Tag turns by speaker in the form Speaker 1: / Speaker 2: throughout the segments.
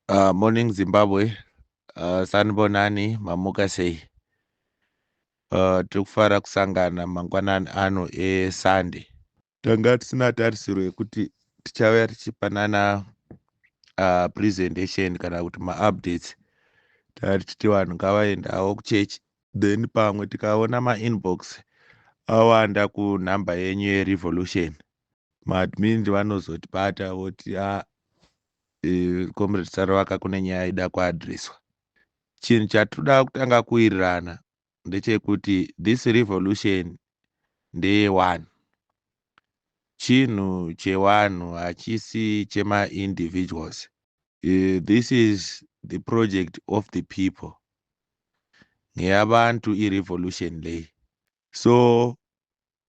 Speaker 1: Uh, morning Zimbabwe. Uh, sanibonani mamuka sei? Uh, tiri kufara kusangana mangwanani ano eSunday. Tanga tisina tarisiro yekuti tichauya tichipanana uh, presentation kana kuti maupdates tari tichiti vanhu ngavaendawo kuchechi then pamwe tikaona mainbox awanda kunhamba yenyu yerevolution maadmin vanozotibata voti a ah, eh, comrade sarovaka kune nyaya ida kuadreswa chinhu chatoda kutanga kuwirirana ndechekuti this revolution ndeye one chinhu chewanhu hachisi chemaindividuals uh, this is the project of the people ngeyabantu irevolution ley so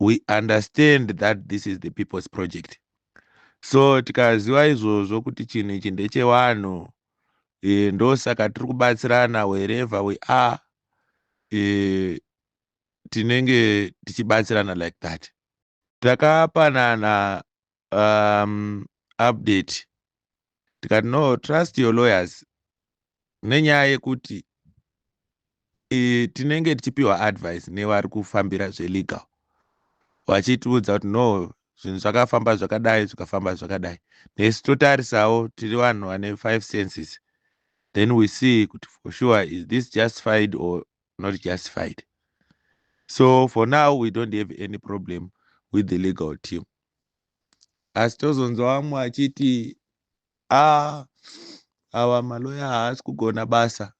Speaker 1: we understand that this is the people's project so tikaziva izvozvo kuti chinhu ichi ndechevanhu e, ndosaka tiri kubatsirana wherever we are e, tinenge tichibatsirana like that takapanana um, update tikati no trust your lawyers nenyaya yekuti e, tinenge tichipiwa advice nevari kufambira zvelegal vachitiudza kuti no zvinhu zvakafamba zvakadai zvikafamba zvakadai nesu totarisawo tiri vanhu vane five senses then we see kuti for sure is this justified or not justified so for now we don't have any problem with the legal team asi tozonzwa vamwe vachiti a ah, awa maloya haasi kugona basa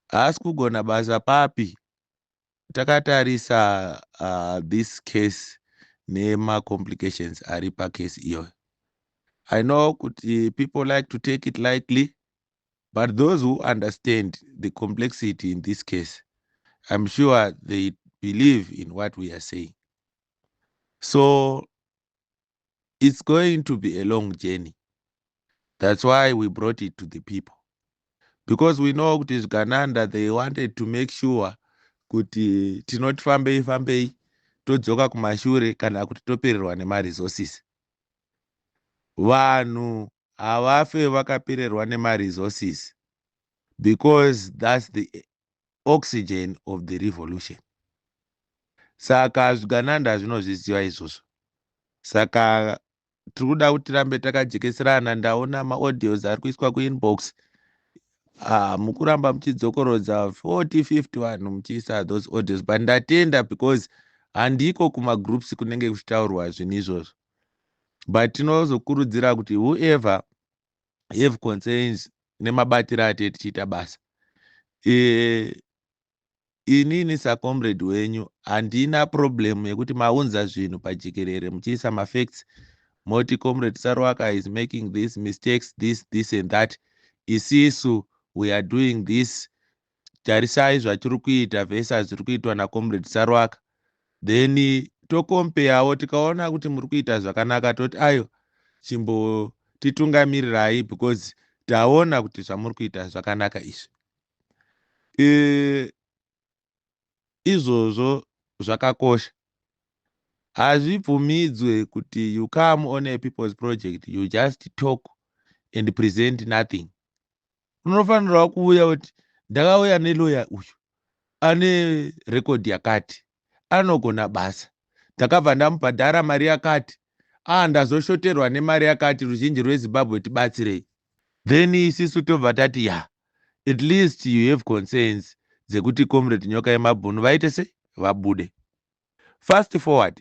Speaker 1: haasi kugona basa papi takatarisa uh, this case nemacomplications ari pacase iyoyo i know kuti people like to take it lightly but those who understand the complexity in this case i'm sure they believe in what we are saying so it's going to be a long journey that's why we brought it to the people because we know kuti zvikananda they wanted to make sure kuti tinoti fambei fambei todzoka kumashure kana kuti topererwa nemaresources vanhu havafe vakapererwa nemaresources because thats the oxygen of the revolution saka zvigananda zvinozviziva izvozvo saka tiri kuda kuti tirambe takajekeserana ndaona maaudios ari kuiswa kuinbox ah, mukuramba muchidzokorodza 40 50 vanhu muchiisa those audios but ndatenda because handiko kumagroups kunenge kuchitaurwa zvinhu izvozvo but tinozokurudzira kuti whoever have concerns nemabatiro atee tichiita basa e, inini sacomrade wenyu handina problem yekuti maunza zvinhu pajekerere muchiisa mafacts moti comrade sarwaka is making this mistakes this this and that isisu we are doing this tarisai zvatiri kuita vese zviri kuitwa nacomrade sarwaka then tokompeyawo tikaona kuti muri kuita zvakanaka toti ayo chimbotitungamirirai because taona kuti zvamuri kuita zvakanaka izvi e, izvozvo zvakakosha hazvibvumidzwe kuti you come on a people's project you just talk and present nothing unofanirawo kuuya kuti ndakauya neloya uyu ane rekodhi yakati anogona basa ndakabva ndamubhadhara mari yakati ah ndazoshoterwa nemari yakati ruzhinji rwezimbabwe tibatsirei then isisu tobva tati ya at least you have concerns dzekuti comrade nyoka yemabhunu vaite sei vabude fast forward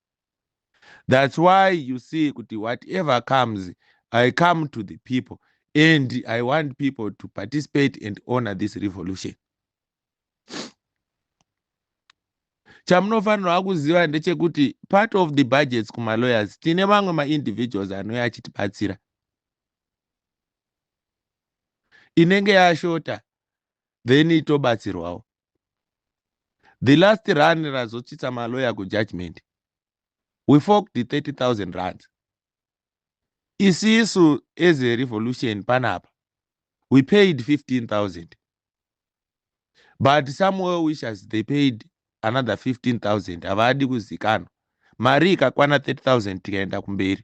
Speaker 1: That's why you see kuti whatever comes, I come to the people and I want people to participate and honor this revolution. chamunofanirwa kuziva ndechekuti part of the budgets kumalawyers tine mamwe maindividuals anouya achitibatsira inenge yashota then itobatsirwawo the last run razotsvitsa maloya kujudgment we forked 30000 rands isisu as a revolution panapa we paid 15000 but some well wishers they paid another 15000 havadi kuzikanwa mari ikakwana 30000 tikaenda kumberi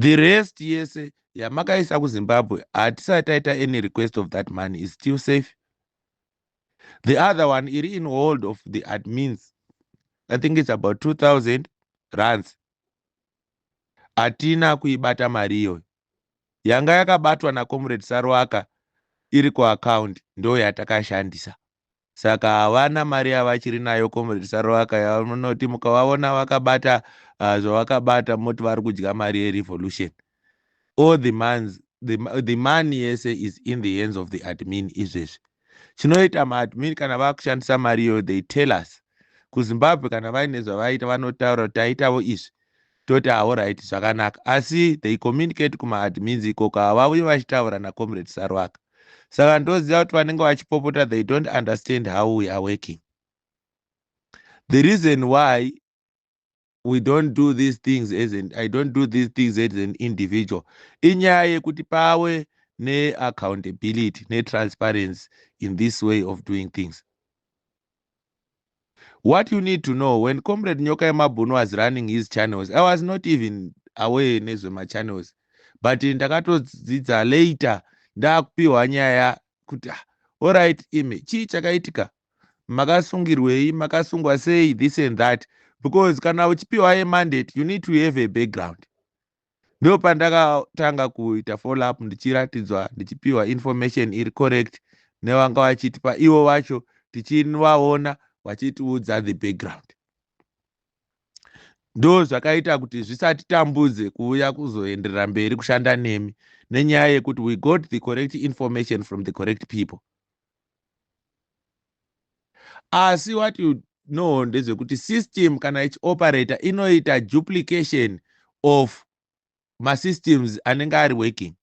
Speaker 1: the rest yese yamakaisa kuzimbabwe hatisati taita any request of that money is still safe the other one iri in hold of the admins i think it's about 2000 rands hatina kuibata mari iyoyo yanga yakabatwa nacomrade saruaka iri kuaccount ndo yatakashandisa saka havana mari yavachiri nayo comrade saroaka yavanoti mukavaona vakabata uh, zvavakabata moti vari kudya mari yerevolution all the mans the, the money yese is in the hands of the admin izvezvi chinoita maadmin kana vakushandisa mari iyoyo they tell us kuzimbabwe kana vaine zvavaita vanotaura kuti taitavo izvi Toti ah horaiti zvakanaka asi they communicate kuma admins ikoko havauye vachitaura na comrade Saruwaka saka ndoziva kuti vanenge vachipopota they don't understand how we are working the reason why we don't do these things as an, i don't do these things as an individual inyaya yekuti pawe neaccountability netransparency in this way of doing things what you need to know when comrade nyoka yemabhunu was running his channels i was not even aware nezvemachannels but ndakatodzidza later ndakupiwa nyaya kuti ah, oright imi chii chakaitika makasungirwei makasungwa sei this and that because kana uchipiwa yemandate you need to have a background ndo pandakatanga kuita follow up ndichiratidzwa ndichipiwa information iri correct nevanga vachitipa ivo vacho tichivaona vachitiudza the background ndo zvakaita kuti zvisatitambudze kuuya kuzoenderera mberi kushanda nemi nenyaya yekuti we got the correct information from the correct people asi what you know ndezvekuti system kana ichioperator inoita duplication of masystems anenge ari working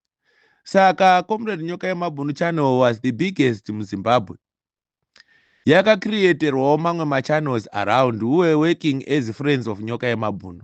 Speaker 1: saka comrade nyoka yemabhunu channel was the biggest muzimbabwe yakacreaterwawo mamwe machannels around who were working as friends of nyoka yemabhunu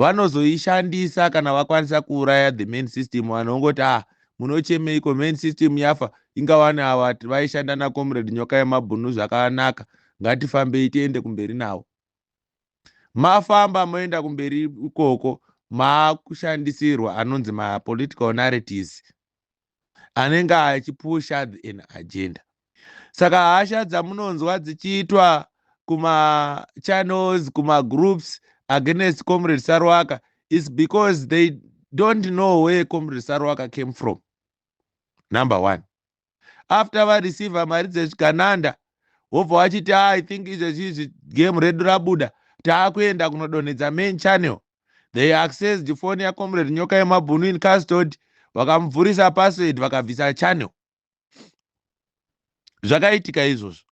Speaker 1: vanozoishandisa kana vakwanisa kuuraya the main system vanhu vongoti ah munochemeiko main system yafa ingawani ava vaishanda nacomrade nyoka yemabhunu zvakanaka ngatifambei tiende kumberi navo mafamba moenda kumberi ikoko maakushandisirwa anonzi mapolitical narratives anenge achipusha an agenda saka hasha dzamunonzwa dzichiitwa kumachannels kumagroups against comrade sarwaka is because they don't know where comrade sarwaka came from number one after vareceiva mari dzezvigananda wobva wachiti ah, i think izvezvi izvi game redu rabuda taakuenda kunodonhedza main channel they accessed phone yacomrade nyoka yemabhunu in custod vakamubvurisa password vakabvisa channel zvakaitika izvozvo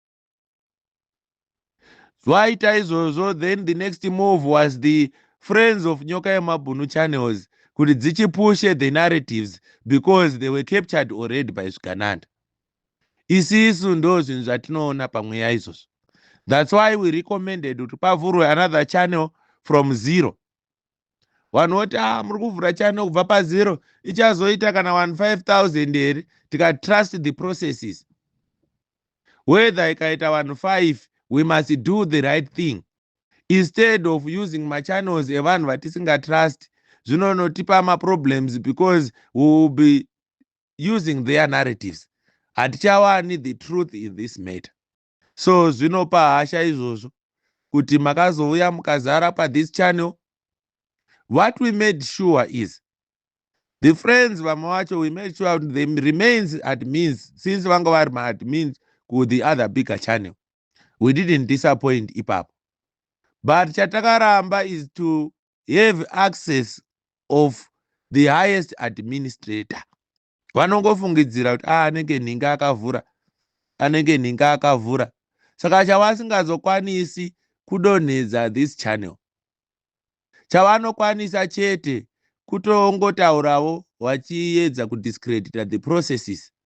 Speaker 1: vaita izvozvo then the next move was the friends of nyoka yemabhunu channels kuti dzichipushe the narratives because they were captured already by zvigananda isisu ndo zvinhu zvatinoona pamweya izvozvo thats why we recommended kuti pavhurwe another channel from zero vanhu voti a ah, muri kuvhura channel kubva pazero ichazoita kana 15000 here tikatrust the processes whether ikaita vanhu 5 we must do the right thing instead of using machannels evanhu vatisingatrust zvinonotipa maproblems because we will be using their narratives hatichawani the truth in this matter so zvinopa hasha izvozvo kuti makazouya mukazara pathis channel what we made sure is the friends vamwe vacho we made sure the remains admins since vanga vari maadmins ku the other bigger channel we didn't disappoint ipapo but chatakaramba is to have access of the highest administrator vanongofungidzira kuti a ah, anenge nhinga akavhura anenge nhinga akavhura saka chavasingazokwanisi kudonhedza this channel chavanokwanisa chete kutongotauravo vachiedza kudiscredita the processes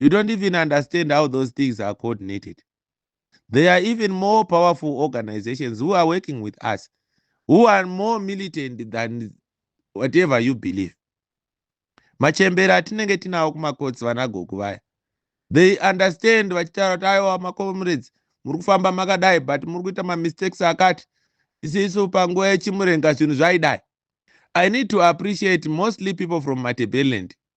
Speaker 1: you don't even understand how those things are coordinated there are even more powerful organizations who are working with us who are more militant than whatever you believe machembere atinenge tinawo kumakotsi vanagoku vaya they understand vachitaura kuti aiwa macomrades muri kufamba makadai but muri kuita mamistakes akati isisu panguva yechimurenga zvinhu zvaidai i need to appreciate mostly people from matebelland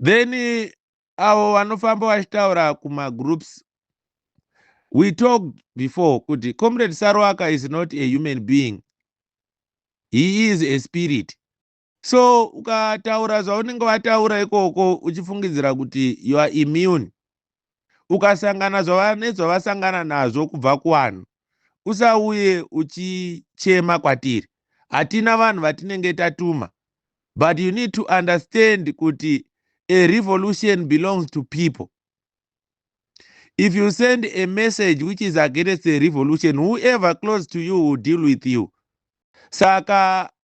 Speaker 1: then avo vanofamba vachitaura kumagroups we talked before kuti comrade saroaka is not a human being he is a spirit so ukataura zvaunenge vataura ikoko uchifungidzira kuti you are immune ukasangana nezvavasangana nazvo kubva kuvanhu usauye uchichema kwatiri hatina vanhu vatinenge tatuma but you need to understand kuti a revolution belongs to people if you send a message which is against a revolution whoever close to you will deal with you saka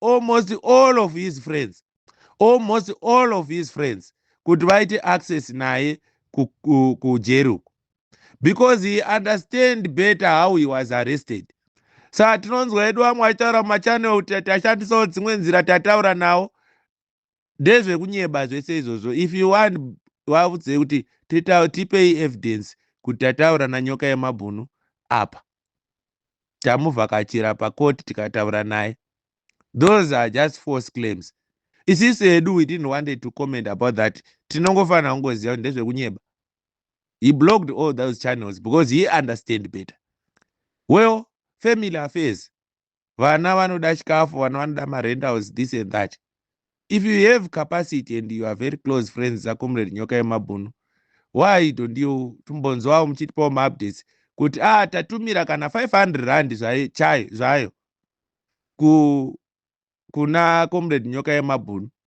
Speaker 1: almost all of his friends almost all of his friends kuti vaite access naye kujeri uku because he understand better how he was arrested sa tinonzwa edu vamwe vachitaura mumachanel kuti tashandisawo dzimwe nzira tataura nawo ndezvekunyeba zvese izvozvo if you want vavudzei kuti tipei evidence kuti tataura nanyoka yemabhunu apa tamuvhakachira pakoti tikataura naye those are just false claims isisu hedu we didn't wanted to comment about that tinongofanira kungoziva kuti ndezvekunyeba he blocked all those channels because he understand better well family affairs vana vanoda chikafu vana vanoda marentals this and that if you have capacity and you are very close friends dzacomrade nyoka yemabhunu why don't you timbonzwawo muchitipawo maupdates kuti a ah, tatumira kana 500 rand zvayo zvayo ku kuna comrade nyoka yemabhunu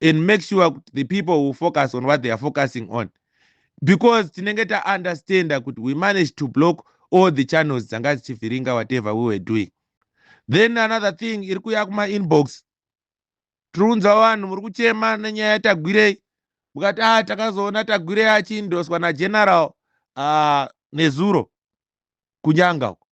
Speaker 1: and make sure kuti the people will focus on what they are focusing on because tinenge taunderstanda kuti we managed to block all the channels dzanga dzichivhiringa whatever we were doing then another thing iri kuya kumainbox tiri kunzwa vanhu muri kuchema nenyaya yatagwirei mukati a ah, takazoona tagwirei achiindoswa nageneral uh, nezuro kunyanga uko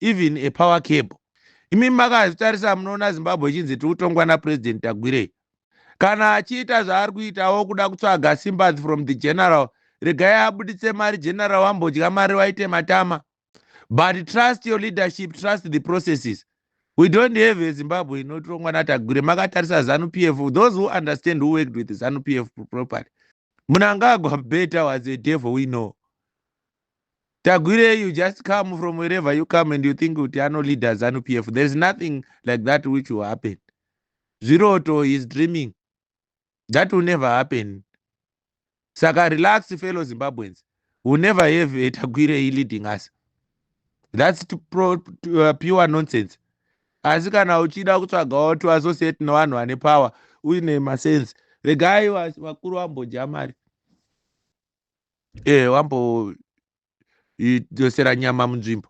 Speaker 1: even a power cable imi makazvitarisa munoona zimbabwe ichinzi tiri kutongwa napurezidendi tagwirei kana achiita zvaari kuitawo kuda kutsvaga sympathy from the general regai abuditse mari general wambodya mari waite matama but trust your leadership trust the processes we don't have a zimbabwe inotirongwa natagwire makatarisa zanu p f those who understand who worked with zanu p f properly munangagwa beta was a devil we know Tagwire, you just come from wherever you come and you think kuti ano leader zanu pf there is nothing like that which will happen zviroto is dreaming that will never happen saka relax fellow zimbabweans will never have a tagwire e leading us that's to pro, to, uh, pure nonsense asi kana uchida kutsvagawo to associate nevanhu vane power uine masense regai vakuru vambodya mari ee eh, wambo idzosera nyama munzvimbo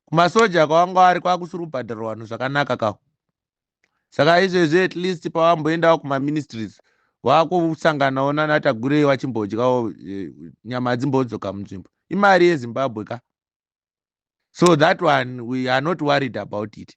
Speaker 1: kumasoja kwawanga wari kwakusiri kubhadhara vanhu zvakanaka kaho saka izvezvi at least pawamboendawo kumaministries wakusanganawo nanatagurei wachimbodyawo eh, nyama dzimbodzoka munzvimbo imari yezimbabwe ka so that one we are not worried about it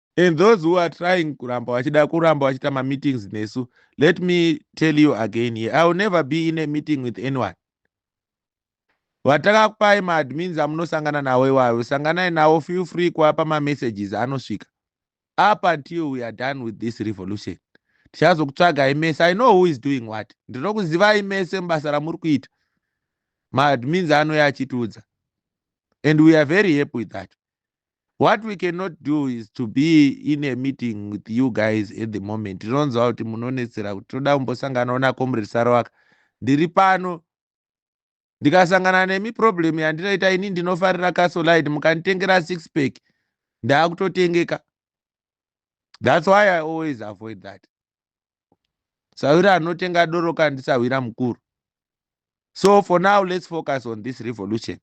Speaker 1: and those who are trying kuramba vachida kuramba vachiita mameetings nesu let me tell you again here i will never be in a meeting with anyone vatakakupai maadmins amunosangana navo iwayo sanganai navo feel free kuapa mamessages anosvika up until we are done with this revolution tichazokutsvagai mese i know who is doing what ndinokuzivai mese mubasa ramuri kuita maadmins anouya achitiudza and we are very happy with that what we cannot do is to be in a meeting with you guys at the moment tinonzwa kuti munonetsera kuti toda kumbosanganawo nacomrade sarowaka ndiri pano ndikasangana nemi problem yandinoita ini ndinofarira casolide mukanditengera six pack ndaakutotengeka thats why i always avoid that sahwira anotenga doro kana ndisahwira mukuru so for now let's focus on this revolution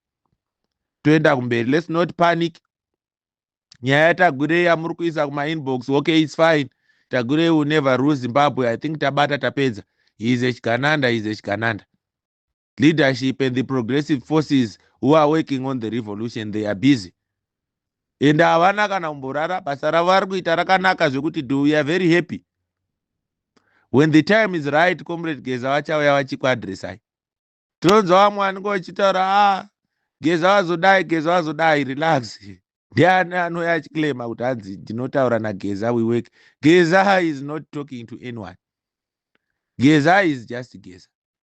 Speaker 1: toenda kumberi let's not panic nyaya yatagurei yamuri kuisa kumainbox okay its fine tagurei will never rule zimbabwe i think tabata tapedza he is a chigananda he is a chigananda leadership and the progressive forces who are working on the revolution they are busy ende havana kana kumborara basa ravo vari kuita rakanaka zvekuti do we are very happy when the time is right comrade geza vachauya vachikuadressai tinonzwa vamwe vanenge vachitaura a ah, geza vazodai geza vazodai relax ndiani anouya achiclaima kuti hanzi ndinotaura nageza we work geza is not talking to anyone geza is just geza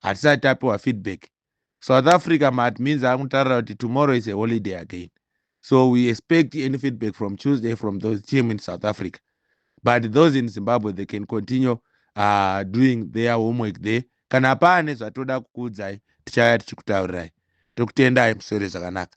Speaker 1: hatisati tapiwa feedback south africa maadmins akutarira kuti tomorrow is a holiday again so we expect any feedback from tuesday from those team in south africa but those in zimbabwe they can continue uh, doing their homework there kana paane zvatoda kukuudzai tichaya tichikutaurirai tokutendai musore zvakanaka